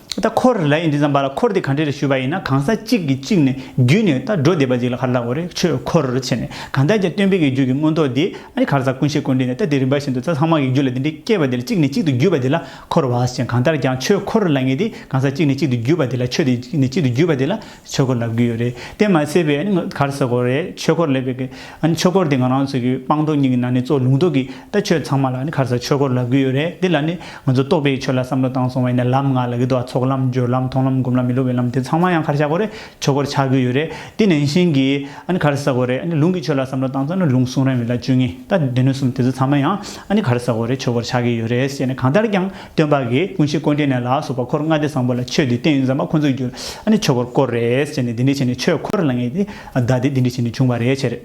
ད་འཁོར་ལ་ཡིན་དུས་ཙམ་པ་ལ་འཁོར་དེ་གང་འདྲས་རེ་ཞུས་པ་ཡིན་ན་གང་ཟག་གཅིག་གིས་གཅིག་ནས་བརྒྱུད་ནས་ད་འགྲོ་བསྡད་པ་ཅིག་ལ་གར་ལ་འོ་རེ་ཆོས་འཁོར་ཕྱེ་ནས་གང་ལྟར་ཀྱང་སྟོན་དཔེ་གི་རྒྱུད་ཀྱི་མངོན་རྟོགས་དེ་ཨ་རི་གར་ཟག་ཀུན་ཤེས་ཀུན་འདྲེས་ནས་ད་དེ་རིམ་པ་བཞིན་དུ་རྩ་ལྷག་མ་གི་རྒྱུད་ལ་འདི་འདྲས་སྐྱེས་པ་དེ་ལ་གཅིག་ནས་གཅིག་ཏུ་བརྒྱུད་པ་དེ་ལ་འཁོར་བ་ཞེས་གང་ལྟར་ཀྱང་ཆོས་འཁོར་ལ་ངེས་ཏེ་གང་ཟག་གཅིག་ནས་གཅིག་ཏུ་བརྒྱུད་པ་དེ་ལ་ཆོས་དེ་གཅིག་ནས་གཅིག་ཏུ་བརྒྱུད་པ་དེ་ལ་ཆོས་འཁོར་ལབ་གི་ཡོད་རེད་དེ་མ་ཚད་པའི་གར་ས་གོ་རེད་ཆོས་འཁོར་ལབ་པའི་ཆོས་འཁོར་དེ་ང་རང་ཚོ་གི་སྤང་རྡོ་གཉིས་ཀྱི་ནང་ནས་གཙོ་ལུང་རྡོ་གི་ད་ཆོས་ཚང་མ་ལ་ནི་གར་ས་ཆོས་འཁོར་ལབ་གི་ཡོད་རེད་དེ་ལ་ནི་ང་ཚོ་རྟོག་པའི་ཆོས་ལ་བསམ་བློ་བཏང་སོང་བས་ནི་ལམ་ང་ལ་གི་འདུག་ཚོགས་ལམ་སྦྱོར་ལམ་མཐོང་ལམ་སྒོམ་ལམ་མི་སློབ་པའི་ལམ་དེ་ཚང་མ་ཡང་གར་ཤ་གོ་རེད་ཆོས་འཁོར་ཆགས་གི་ཡོད་རེད་དེ་ནན་ཞིང་གི་གར་ས་གོ་རེད་ལུང་གི་ཆོས་ལ་བསམ་བློ་བཏང་ཙང་ནི་ལུང་གསུང་རན་མི་ལ་བཅུ་གཉིས་ད་སྡེ་སྣོད་གསུམ་དེ་ཚོ་ཚང་མ་ཡང་གར་ས་གོ་རེད་ཆོས་འཁོར་ཆགས་གི་ཡོད་རེད་ཟེར་ནས་གང་ལྟར་ཀྱང། སྟོན་པ་གིས་ཀུན་གཞི་བཀོད་འབྲི་ནས་ལ་སོགས་པ་འཁོར་ལྔ་སྡེ་བཟང་པོ་ལ་ཆོས་འདི་བསྟན་ཡོད་མཚམས་མ་ཁོ་ཚོས་རྒྱུ་ཨ་ནི་ཆོས་འཁོར་བསྐོར་རེད་ཟེར་ནས་འདི་འདྲི་བྱས་ནས་ཆོས་འཁོར་ལ་ངེས་ཏེ་བདག་འདི་འདི་འདྲི་བྱས་ནས་བྱུང་བ་རེད་བྱས་རེད་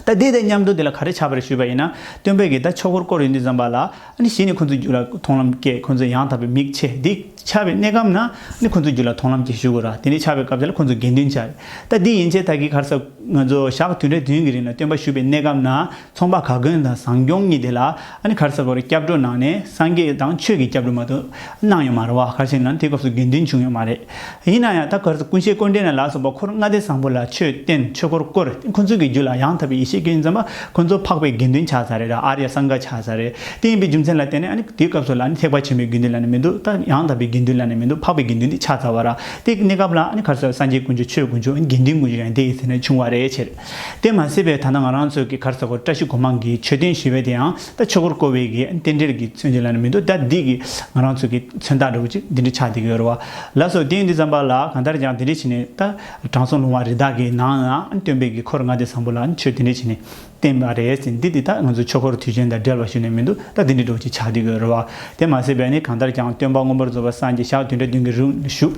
ད་འདི་ལྟའི་ཉམས་འགྲོ་འདི་ལ་ག་རེ་བྱ་བ་རེད་ཞུས་པ་ཡིན་ན་སྟོན་པས་གིས་ད་ཆོས་འཁོར་བསྐོར་ཡོད་འདི་བཟང་པ་ལ་ཨ་ནི་གཞི་ནས་ཁོ་ཚོས་རྒྱུ་ལ་མཐོང་ལམ་སྐྱེས་ཁོ་ཚོས་ཡང་དག་པའི་མིག་ཕྱེ་འདི་ཆ་བའི་གནས་སྐབས་ན་ཨ་ནི་ཁོ་ཚོས་རྒྱུ་ལ་མཐོང་ལམ་སྐྱེས་ཞུ་དགོས་ར་དེ་འདྲི་ཆ་བའི་སྐབས་དེ་ལ་ཁོ་ཚོས་དགེ་འདུན་བྱ་རེད་ད་འདི་ཡིན་ཕྱིར་ད་གིས་གར་ས་ང་ཚོ་ཞག་བདུན་རེ་བདུན་གི་རིང་ལ་སྟོན་པ་ཞུས་པའི་གནས་སྐབས་ན། ཚོང་པ་ག་གོན་དང་བཟང་སྐྱོང་གཉིས་དེ་ལ་ཨ་ནི་གར་ས་གོར་སྐྱབས་འགྲོ་གནང་ནས་སངས་རྒྱས་དང་ཆོས་ཀྱི་སྐྱབས་འགྲོ་མ་ཏུ་གནང་ཡོད་མ་རེད་བ་གར་ཞིག་ན་དེ་སྐབས་སུ་དགེ་འདུན་བྱུང་ཡོད་མ་རེད་ཡིན་ན་ཡང་ད་གར་ས་ཀུན་ཤེས་ཀོ་འདྲེ་ན་ལ་སོགས་པ་འཁོར་ལྔ་སྡེ་བཟང་པོ་ལ་ཆོས་བསྟན་ཆོས་འཁོར་བསྐོར་ཁོ་ཚོ་གི་རྒྱུད་ལ་ཡང་དག་པའི་ཡེ་ཤེས་སྐྱོན་ཙམ་པ་ཁོ་ཚོ་འཕགས་པའི་དགེ་འདུན་ཆགས་ས་རེད་ཨ་ར་ཡ་སངས་རྒྱ་ཆགས་ས་རེད་དེ་ཡིན་པའི་རྒྱུ་མཚན་ལ་བརྟེན་ནས་ཨ་ནི་དེ་སྐབས་སུ་ལ་ནི་ཐེག་པ་ཆེན་པོའི་དགེ་འདུན་ལ་ནི་མི་འདུག་ད་ཡང་དག་པའི་དགེ་འདུན་ལ་ནི་མི་འདུག་འཕགས་པའི་དགེ་འདུན་དེ་ཆགས་ཚར་བ་ར་དེ་གནས་སྐབས་ལ་ཨ་ནི་གར་ས་སངས་རྒྱས་དཀོན་མཆོག་ཆོས་དཀོན་མཆོག་དགེ་འདུན་དཀོན་མཆོག་ཡང་དེ་ཡི་ཚེ་ན་བྱུང་བ་རེད་ཕྱིར། དེ་མ་ཟད་པའི་ད་ལྟ་ང་རང་ཚོའི་གི་གར་ས་གོ་བཀྲ་ཤིས་གོ་འཕང་གི་མཆོད་རྟེན་ཞེས་པའི་དེའང་ད་ཆོས་འཁོར་བསྐོར་བའི་གི་རྟེན་འབྲེལ་གི་མཚོན་བྱེད་ལ་ནི་མི་འདུག་ད་འདི་གི་ང་རང་ཚོའི་གི་མཚོན་རྟགས་འདྲ་བོ་ཅིག་འདི་འདྲ་ཆགས་བསྡད་ཀྱི་ཡོད་རེད་བ། ལགས་སོ་ཐེངས་འདི་བརྩམས་པ་ལ་གང་ལྟར་ཀྱང་དེ་འདྲས་བྱས་ནས་ད་དྲང་སྲོང་ལུང་བ་རི་དྭགས་ཀྱི་ནང་ན་སྟོན་པའི་གི་འཁོར་ལྔ་སྡེ་བཟང་པོ་ལ་མཆོད་དེ་འདྲས་བྱས་ནས་བསྟན་པ་རེད་ཟེར་འདི་འདི་ད་ང་ཚོའི་ཆོས་འཁོར་དུས་ཆེན་དང་འབྲེལ་བ་ཞུས་ནས་མི་འདུག་ད་འདི་འདྲས་འགྲོ་བ་ཅིག་ཆགས་བསྡད་ཀྱི་ཡོད་རེད་བ། དེ་མ་ཟད་པའི་ནི་གང་ལྟར་ཀྱང་སྟོན་པ་སྔོན་པོར་རྫོགས་པ་སངས་རྒྱས་ཞག་བདུན་དྲུག་བདུན་གྱི་རིང་ཞུགས